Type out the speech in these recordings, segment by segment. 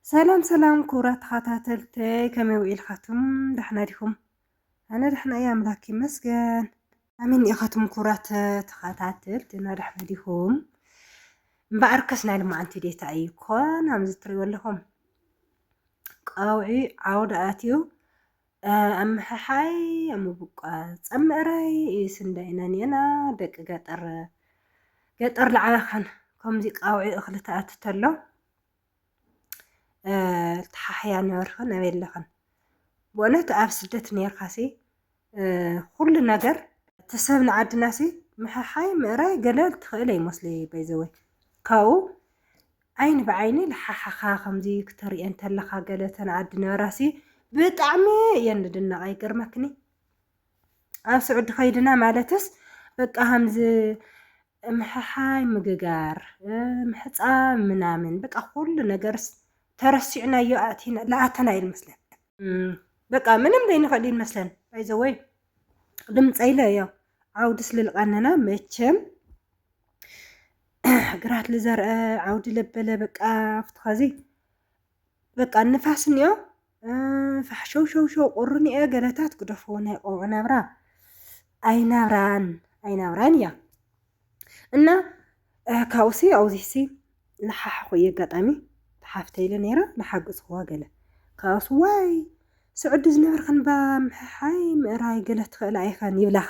ሰላም ሰላም ክቡራት ተኸታተልተይ ከመይ ውዒልካትኩም ዳሕና ዲኹም? ኣነ ዳሕና እየ ኣምላክ ይመስገን። ኣሚን ኢኻትኩም ክቡራት ተኸታተልቲ እና ዳሕና ዲኹም? እምበኣርከስ ናይ ልማዓንቲ ዴታ እዩ ኮን ኣምዚ ትሪእዎ ኣለኹም ቀውዒ ዓውዲ ኣትዩ ኣምሕሓይ ኣምቡቋ ጸም ምዕራይ ስንዳይ ነንየና ደቂ ገጠር ገጠር ልዓበኻን ከምዚ ቃውዒ እኽሊ ተኣቲ ተሎ ተሓሕያ ነበርኽን ኣበይ ኣለኽን ብእውነት ኣብ ስደት ነርካሲ ኩሉ ነገር ተሰብ ንዓድናሲ ምሕሓይ ምእራይ ገለ ትኽእል ኣይመስለይ ባይዘወይ ካብኡ ዓይኒ ብዓይኒ ልሓሓኻ ከምዚ ክተርእየን ተለኻ ገለ ተን ዓዲ ነራሲ ብጣዕሚ እየን ልድነቃ ይገርመክኒ ኣብ ስዑዲ ከይድና ማለትስ በቃ ከምዚ ምሕሓይ ምግጋር ምሕፃብ ምናምን በቃ ኩሉ ነገርስ ተረሲዕናዮ ኣእቲና ልኣተና እዩ ልመስለን በቃ ምንም ዘይንኽእል እዩ ንመስለን ባይዘወይ ድምፀ ኢለ እዮ ዓውዲ ስልልቀነና መቸም ግራት ዝዘርአ ዓውዲ ለበለ በቃ ኣብቲ ኸዚ በቃ ንፋስ እኒኦ ፋሕሸውሸውሸው ቁርኒኤ ገለታት ግደፎ ናይ ቆልዑ ናብራ ኣይናብራን ኣይናብራን እያ እና ካብኡሲ ኣብዚሲ ንሓሓኹ እየ ኣጋጣሚ ተሓፍተ ኢለ ነይራ ንሓግዝኽዋ ገለ ካብኡስ ዋይ ስዑዲ ዝነበርክን ባ ምሕሓይ ምእራይ ገለ ትኽእል ኣይኸን ይብላኻ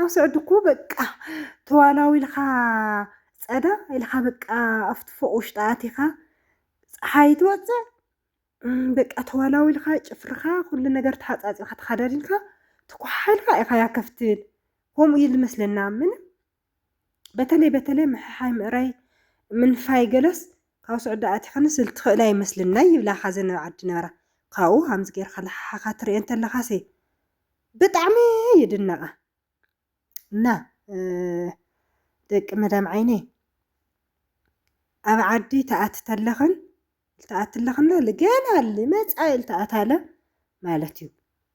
ኣብ ስዑዲ እኮ በቃ ተዋላዊ ኢልካ ጸዳ ኢልካ በቃ ኣብቲ ፎቅ ውሽጢ ኣቲኻ ፀሓይ ትወፅእ በቃ ተዋላዊ ኢልካ ጭፍርኻ ኩሉ ነገር ተሓፃፂርካ ተኸዳዲንካ ትኳሓልካ ኢኻ ያከፍትል ከምኡ እዩ ዝመስለና ምንም በተለይ በተለይ ምሕሓይ ምእራይ ምንፋይ ገለስ ካብ ስዑዲ ኣቲኽንስ ልትኽእላ ይመስልን ናይ ይብላ ካዘን ኣብ ዓዲ ነበራ ካብኡ ሃምዚ ጌርካ ልሓሓኻ ትርኤ እንተለኻሲ ብጣዕሚ ይድነቓ እና ደቂ መዳም ዓይነይ ኣብ ዓዲ ተኣቲ ተለኽን ልተኣቲ ኣለኽና ገና ልመፃኢ ልተኣታለ ማለት እዩ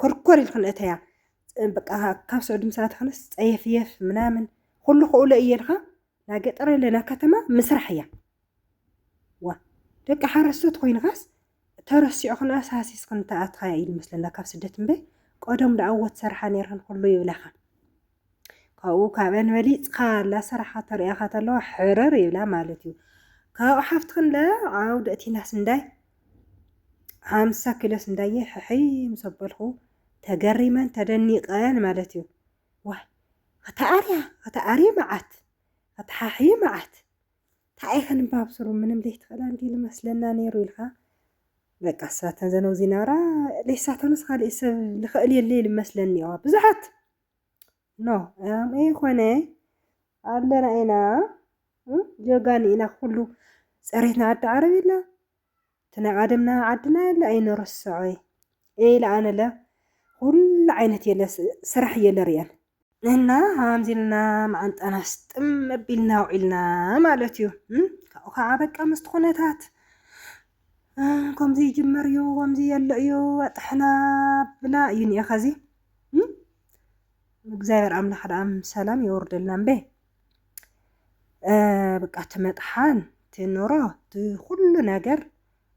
ኮርኮር ኢልክን እተያ በቃ ካብ ስዑድ ምሳ ትኾነስ ጸየፍየፍ ምናምን ኩሉ ክእሎ እየ ኢልካ ናብ ገጠር ኣለና ከተማ ምስራሕ እያ ዋ ደቂ ሓረስቶት ኮይንካስ ተረሲዑክን ኣሳሲስክን ተኣትኻያ እዩ መስለና ካብ ስደት እምበይ ቀደም ደኣወት ሰርሓ ነይርክን ኩሉ ይብላኻ ካብኡ ካብአን በሊፅካ ላሰራሓ ተርእያካ ተለዋ ሕርር ይብላ ማለት እዩ ካብኡ ሓፍቲ ክንደ ዓው ደእቲና ስንዳይ ሓምሳ ኪሎ ስንዳየ ሕሕይ ምስ ኣበልኩ ተገሪመን ተደኒቀን ማለት እዩ ዋይ ከተኣርያ ከተኣርየ መዓት ከተሓሕየ መዓት ታኣይ ከንባብ ስሩ ምንም ዘይትኽእላ እንዲ ልመስለና ነይሩ ኢልካ በቃ ሳተን ዘነው ዚናራ ለይሳተንስ ካልእ ሰብ ልኽእል የለ ልመስለኒ እዋ ብዙሓት ኖ ኣምኤ ኾነ ኣለና ኢና ጀጋኒ ኢና ኩሉ ፀሬትና ዓዲ ዓረብ የለ እቲ ናይ ዓደምና ዓድና የለ ኣይንርስዖ ኢለ ኣነለ ኩሉ ዓይነት የለ ስራሕ እየለ ርየን እና ሃምዚ ኢልና መዓንጣና ስጥም ኣቢልና ውዒልና ማለት እዩ ካብኡ ከዓ በቃ ምስቲ ኩነታት ከምዚ ይጅመር እዩ ከምዚ የለ እዩ ኣጥሕና ብላ እዩ ኒኤ ከዚ እግዚኣብሔር ኣምላኽ ደኣም ሰላም የወርደልና እምበ በቃ እቲ መጥሓን እቲ ኑሮ እቲ ኩሉ ነገር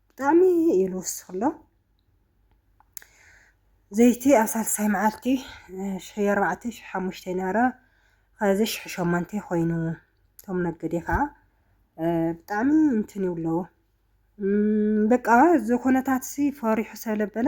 ብጣዕሚ እዩ ዝውስኽሎ ዘይቲ ኣብ ሳልሳይ መዓልቲ ሽሕይ ኣርባዕተ ሽሕ ሓሙሽተ ነረ ኸዚ ሽሕ ሸሞንተ ኮይኑ እቶም ነገዴ ከዓ ብጣዕሚ እንትን ይብለዎ በቃ እዚ ኩነታት ሲ ፈሪሑ ሰለበለ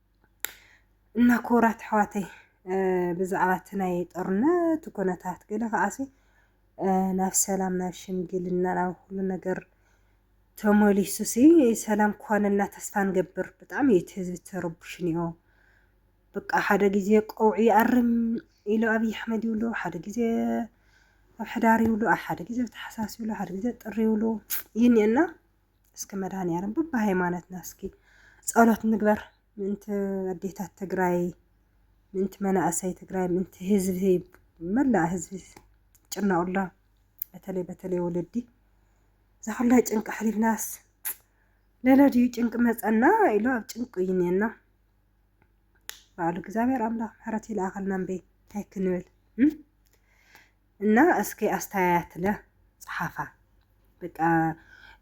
እና ክቡራት ኣሕዋተይ ብዛዕባ እቲ ናይ ጦርነት ኩነታት ገለ ከዓሲ ናብ ሰላም ናብ ሽምግልና ናብ ኩሉ ነገር ተመሊሱ ሲ ሰላም ክኾነና ተስፋ ንገብር። ብጣዕሚ እዩ እቲ ህዝቢ ተረቡሽ እኒኦ በቃ ሓደ ግዜ ቀውዒ ይኣርም ኢሉ ኣብይ ኣሕመድ ይብሉ፣ ሓደ ግዜ ኣብ ሕዳር ይብሉ፣ ሓደ ግዜ ኣብ ታሕሳስ ይብሉ፣ ሓደ ግዜ ጥሪ ይብሉ ይኒኤና እስኪ መድኃኒዓለም በብሃይማኖትና እስኪ ጸሎት ንግበር ምእንቲ ኣዴታት ትግራይ ምእንቲ መናእሰይ ትግራይ ምእንቲ ህዝቢ መላእ ህዝቢ ጭነቕሎ በተለይ በተለይ ወለዲ እዛ ኩላ ጭንቂ ሕሊናስ ለለድዩ ጭንቂ መፀና ኢሉ ኣብ ጭንቂ እዩ እኔና በዓሉ እግዚኣብሔር ኣምላኽ ምሕረት ይልኣኸልና እምበይ እንታይ ክንብል እና እስኪ ኣስተያያትለ ጸሓፋ በቃ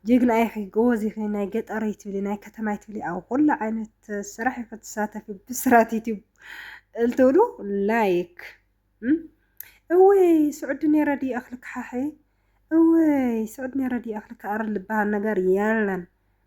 ጅግና ኢኺ ጎበዝ ኢኺ ናይ ገጠር ይትብሊ ናይ ከተማ ይትብሊ ኣብ ኩሉ ዓይነት ስራሕ ኢኺ ትሳተፊ ብስራት ዩቲዩብ እልትብሉ ላይክ እወይ ስዑዲ ነይረ ድዩ ኣኽሊ ክሓሒ እወይ ስዑዲ ነይረ ድዩ ኣኽሊ ክኣርል ዝበሃል ነገር የለን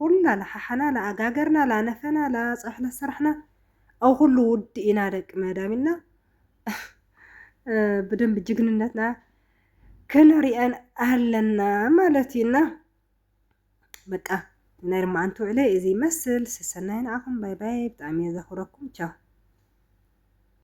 ኹላ ላሓሓና ላኣጋገርና ላነፈና ላፀብሒ ላሰራሕና ኣብ ኹሉ ውዲ ኢና ደቂ መዳም ኢልና ብደንቢ ጅግንነትና ክንሪኤን ኣለና ማለት እዩ እና በቃ ናይ ርማዓንቲ ውዕለይ እዚ ይመስል ሰሰናይ ንዓኹም ባይ ባይ ብጣዕሚ እየ ዘኽብረኩም ቻው